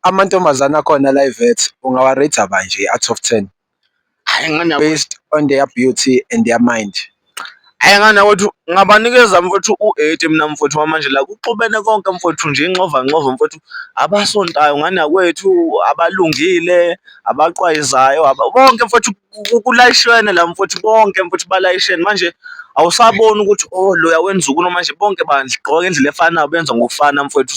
Amantombazane akhona la eVet ungawa-rate-a kanje out of ten? Hhayi ngane yakwethu. Based on their beauty and their mind. Hhayi ngane yakwethu ngabanikeza mfwethu u-eighty mina mfwethu kwamanje la kuxubene konke mfwethu nje inxovanxova mfwethu. Abasontayo ngane yakwethu, abalungile, abaqwayizayo konke mfwethu kulayishwene la mfwethu konke mfwethu balayishene. Manje awusaboni ukuthi oh loya wenza ukunoma manje bonke bandla gqoka ngendlela efanayo benza ngokufana mfwethu .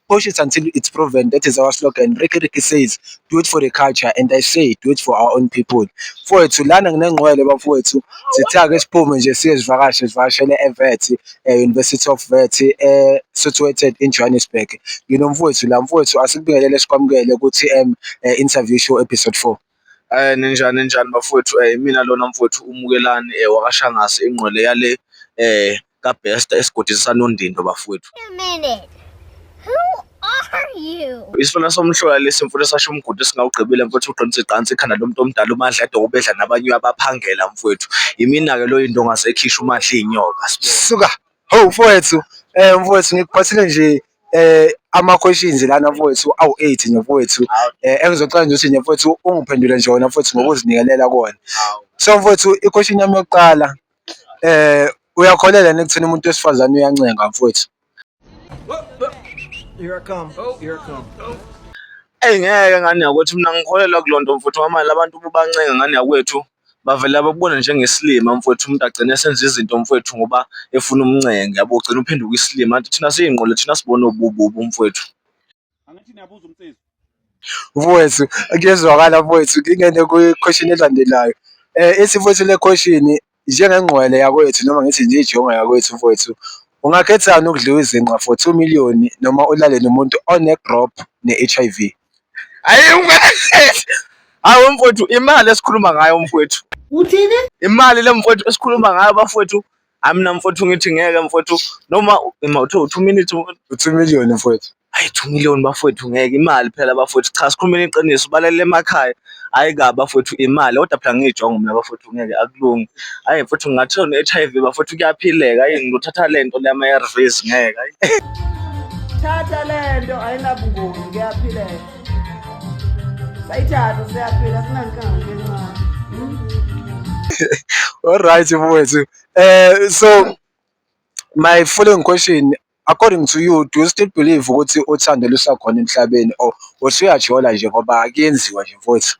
Push it until it's proven. That is our slogan. Ricky Ricky says, do it for the culture. And I say, do it for our own people. Mfowethu, lana nginengqwele bafowethu. Sithake siphume nje siye zivakashe zivakashele eVET, eh, University of VET, eh, situated in Johannesburg. Ngino mfowethu la mfowethu asikubingelele sikwamukele ukuthi um, eh, interview show episode 4. Ayi ninjani ninjani bafowethu imina lona mfwethu uMukelani wakaShangase ingqwele yale kaBester esigodini sanondindo bafowethu. Isifana somhlola lesi mfowethu esasho umgodi esingawugqibile mfowethu uqinisa iqansi ikhanda lomuntu omdala uMandla edoka ubedla nabanye uyabaphangela mfowethu. Yimina-ke loyi indonga zekhishi uMandla iyinyoka suka. Ho mfowethu, eh mfowethu ngikuphathile nje eh ama-questions lana mfowethu awu-eight nje mfowethu eh engizocela nje ukuthi nje mfowethu ungiphendule nje wona mfowethu ngokuzinikelela kuwona. So mfowethu i-question yami yokuqala eh uyakholelwa yini ekutheni umuntu wesifazane uyancenga mfowethu? Eyi ngeke ngane yakwethu mina ngikholelwa kuloo nto mfuthu ngoba manje abantu ububancenga ngane yakwethu bavele bakubone njengesilima mfwethu umuntu agcine esenza izinto mfwethu ngoba efuna umncenge yabo ugcina uphenduka isilima kanti thina siyingqondo thina sibona ubububu mfwethu angithi niyabuza umsizi mfowethu kuyezwakala mfowethu ngingene kwi-question elandelayo um ithi mfowethu le question njengengqwele yakwethu noma ngithi nje ijonga yakwethu mfowethu ungakhethani ukudliwa izinqa for two million noma ulale nomuntu one-drop ne-H_I_V Ayi ungahlezi. Hayi mfowethu imali esikhuluma ngayo mfowethu. Uthini? Imali le mfowethu esikhuluma ngayo bafowethu. Amina mfowethu ngithi ngeke mfowethu noma ima uthe 2 minutes mfowethu. 2 million mfowethu. Hayi 2 million bafowethu ngeke imali phela bafowethu cha sikhulumeni iqiniso balalele emakhaya. hhayi kabi bafowethu imali kodwa phela ngiyijongo mina bafowethu ngeke akulungi hhayi futhi ngingathiwa ne-h i v bafowethu kuyaphileka ayi ngiluthatha le nto lama-a r vs ngeke ayi thatha le nto ayinabungozi kuyaphileka sayithatha siyaphila sinankange encane All right, mfowethu. Eh so my following question According to you, do you still believe ukuthi uthando lusakhona emhlabeni or usuyajola nje ngoba kuyenziwa nje mfowethu?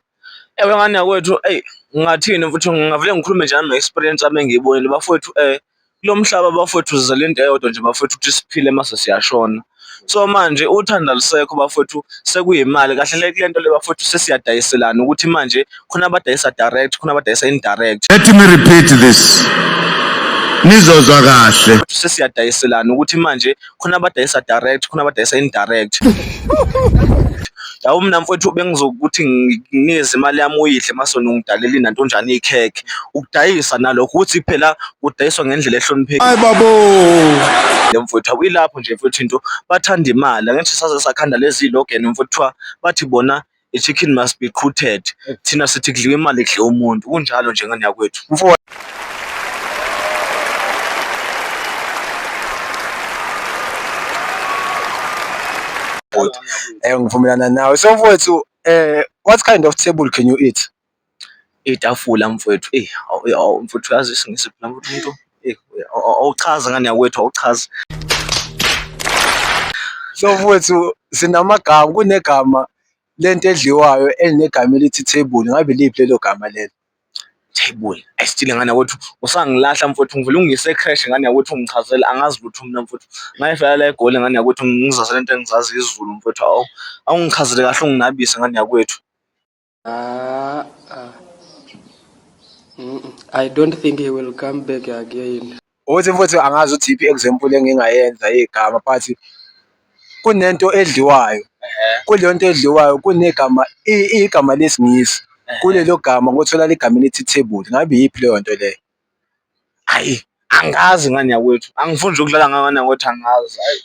Ewe ngane yakwethu eyi ngingathini futhi ngingavele ngikhulume nje nano-experience ami engiyibonile bafowethu um kulo mhlaba bafowethu sizele into eyodwa nje bafowethu ukuthi siphile mase siyashona so manje uthando alusekho bafowethu sekuyimali kahle hle kule nto le bafowethu sesiyadayiselana ukuthi manje khona abadayisa direct khona abadayisa indirect let me repeat this nizozwa kahle ukuthi sesiyadayiselana ukuthi manje khona abadayisa direct khona abadayisa indirect yawo mina mfowethu bengizokuthi nginikeze imali yami uyidle masona ungidalela inantonjana ikhekhe ukudayisa nalokho ukuthi phela kudayiswa ngendlela ehloniphekile hayi babo le mfowethu awuyilapho nje mfowethu into bathanda imali angithi saze sakhanda lezi logan mfowethu bathi bona i-chicken must be qhuted thina sithi kudliwa imali kudle umuntu kunjalo nje ngane yakwethu mfo Eh ngivumelana nawe. So mfowethu eh what kind of table can you eat? Itafula mfwethu eyi awu mfwethu uyazi isiNgisi phela mfwethu umuntu eyi awuchazi ngani yakwethu awuchazi. So mfwethu sinamagama kunegama lento edliwayo elinegama elithi thebuli ngabe iliphi lelo gama lelo? Thebuli ayi still ngani yakwethu usangilahla mfwethu ngivele ungiyise e-cresh ngani yakwethu ungichazela angazi lutho mina mfwethu ngayifela la eGoli ngani yakwethu ngizazela into engizaziyo isiZulu mfwethu awu awungichazele kahle unginabise ngani yakwethu. Ah, ah. I don't think he will come back again. Ukuthi futhi angazi ukuthi iphi example engingayenza igama but kunento edliwayo kuleyo nto edliwayo kunegama igama lesingisi kulelo gama kuthola ligama elithi table ngabe yiphi leyo nto leyo hayi angazi ngani yakwethu angifuni nje ukudlala ngangana ngokuthi angazi hayi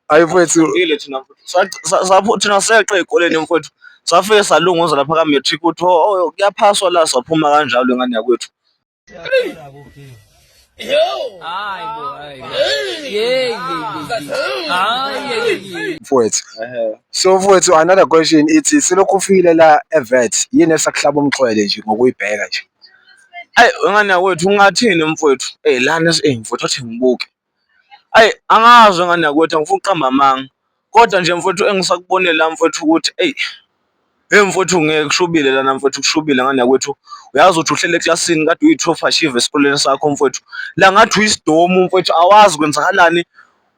hayi mfethu thina seqe ey'koleni mfethu safike salunguza lapha ka-matric ukuthi oh, oh, oh, kuyaphaswa la saphuma kanjalo ingane yakwethu mfowethu so mfowethu another question ithi silokhu ufikile la evet yini esakuhlaba umxhwele nje ngokuyibheka nje Ayi wengane yakwethu ungathini mfowethu? Ey lana ey mfowethu athi ngibuke. Ayi angazi wengane yakwethu angifuni ukuqamba amanga. Kodwa nje mfowethu engisakubonile la mfowethu ukuthi ey hey mfowethu ngeke kushubile lana mfowethu kushubile ngane yakwethu. Uyazi ukuthi uhlele eklasini kade uyi-top achieve esikoleni sakho mfowethu. La ngathi uyisidomu mfowethu awazi kwenzakalani.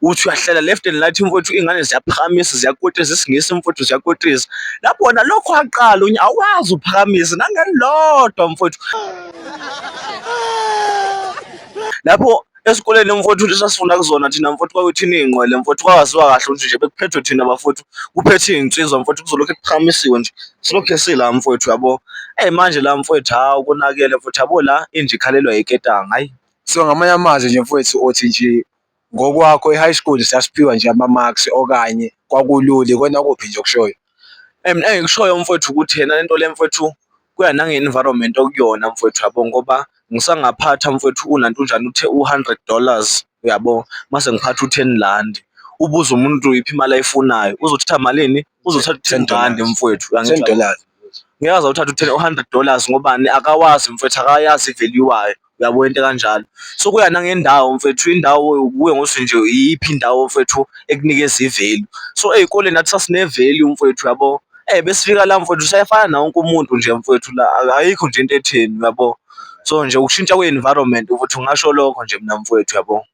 uthi uyahlala left and right mfowethu ingane ziyaphakamisa ziyakotisa isingisi mfowethu ziyakotisa lapho wona lokho aqala unye awazi uphakamisa nangelodwa mfowethu lapho esikoleni mfowethu ukuthi sasifunda kuzona thina mfowethu kwakuthina iy'nqwele mfowethu kwawaziwa kahle ukuthi nje bekuphethwe thina bafowethu kuphethe iy'nsizwa mfowethu kuzolokhu kuqhamisiwe nje silokhu esila mfowethu yabo eyi manje la mfowethu hawu konakele mfowethu yabo la inje ikhalelwa yiketanga hayi so ngamanye amazwi nje mfowethu othi nje Ngokwakho e-high school sasiphiwa nje ama-marks okanye kwakulula, ikona kuphi nje okushoyo? Eyi mina engikushoyo mfwethu ukuthi ena le nto le mfwethu kuya nange-environment okuyona mfwethu yabo ngoba ngisangaphatha mfwethu unantunjana uthe u-hundred dollars uyabo, mase ngiphatha u-ten rand. Ubuze umuntu iphi imali ayifunayo uzothatha malini? Uzothatha u-ten rand mfwethu . Ngeke aze awuthathe u-hundred dollars ngobani? Akawazi mfwethu akayazi i-value yayo. uyabo into kanjalo so kuya nangendawo mfethu indawo yokuwe ngosuthi nje iyiphi indawo mfethu ekunikeza ivalue so ezikoleni nathi sasine value mfethu yabo eh besifika la mfethu sayefana na wonke umuntu nje mfethu la ayikho nje into etheni yabo so nje ukushintsha kwe environment ukuthi ungasho lokho nje mina mfwethu yabo.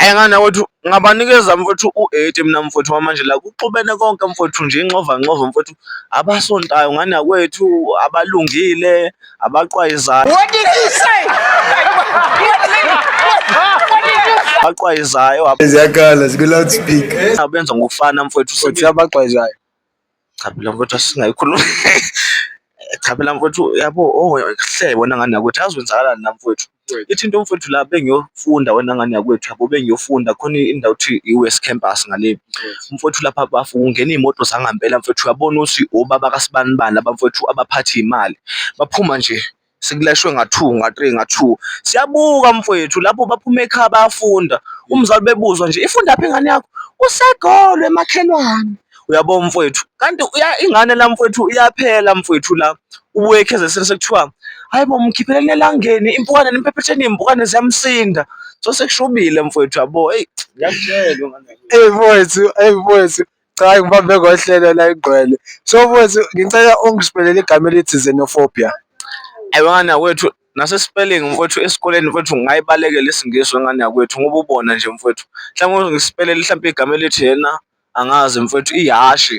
Ayi ngana wethu ngabanikeza mfowethu u-eighty mina mfowethu wamanje la kuxubene konke mfowethu nje inxovanxova mfowethu abasontayo ngani yakwethu abalungile abaqwayizayo abaqwayizayo ziyakhala zikwi-loudspeaker abenza ngokufana mfowethu sothi abaqwayizayo Cha phela mfowethu asingayikhulumi cha phela mfowethu yabo oh hle wena ngane yakwethu yazi wenzakalani la mfowethu ithi into mfowethu la bengiyofunda wena ngane yakwethu yabo bengiyofunda khona indawo kuthiwa i-West Campus ngale mfowethu lapha bafu kungena iy'moto zangempela mfowethu uyabona ukuthi obaba kasibanibani laba mfowethu abaphatha iy'mali baphuma nje sikulashwe nga-two nga-three nga-two siyabuka mfowethu lapho baphuma ekhaya bayafunda umzali bebuzwa nje ifunda phi ingane yakho usegolo emakhelwane uyabo mfowethu kanti ingane la mfowethu iyaphela mfowethu la ubuye ekhezesini sekuthiwa hayi bo mkhiphele elangeni impukane nimphephetsheni iy'mpukane ziyamsinda so sekushubile mfowethu yabo eyi ngiyakutshelwa eyi mfowethu eyi mfowethu Cha ngibambe ngohlelo la igcwele. So mfowethu ngicela ungisiphele igama elithi xenophobia. Ayibona kwethu nase spelling mfowethu esikoleni mfowethu ngayibalekela isingisi wengane yakwethu ngoba ubona nje mfowethu. Mhlawumbe ngisipelele mhlawumbe igama elithi yena angazi mfowethu ihashi.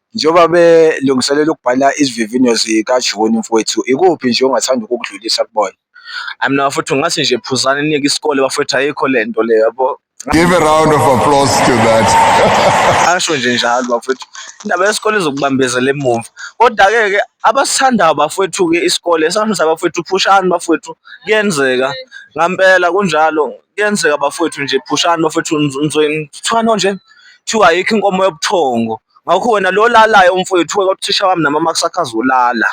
Njengoba belungiselela ukubhala izivivinyo zikaJuni, mfwethu, ikuphi nje ongathanda ukukudlulisa kubona? Hayi mina bafowethu ngathi nje phuzani niyeke isikole bafowethu ayikho le nto le yabo. Give a round of applause to that. Asho nje njalo bafowethu. Indaba yesikole izokubambezela emuva. Kodwa-ke ke abasithandayo bafowethu-ke isikole esamisa bafowethu phushani bafowethu kuyenzeka. Ngampela kunjalo kuyenzeka bafowethu nje phushani bafowethu nizwe kuthiwano nje? Kuthiwa ayikho inkomo yobuthongo. Ngakho wena lo lalayo umfowethu kodwa uthisha wami nami amakusakhaza ulala.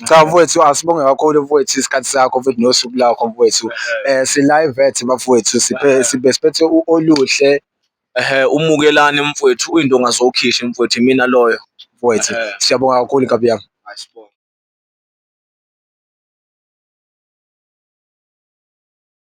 Cha mfowethu asibonge kakhulu mfowethu isikhathi sakho futhi nosuku lakho mfowethu. Eh si live at bafowethu siphe sibe siphethe u- oluhle Ehhe umukelani mfowethu uyinto ongazowukhishi mfowethu imina loyo. mfowethu. Eh. Siyabonga kakhulu kabi yami. Ayisibonge.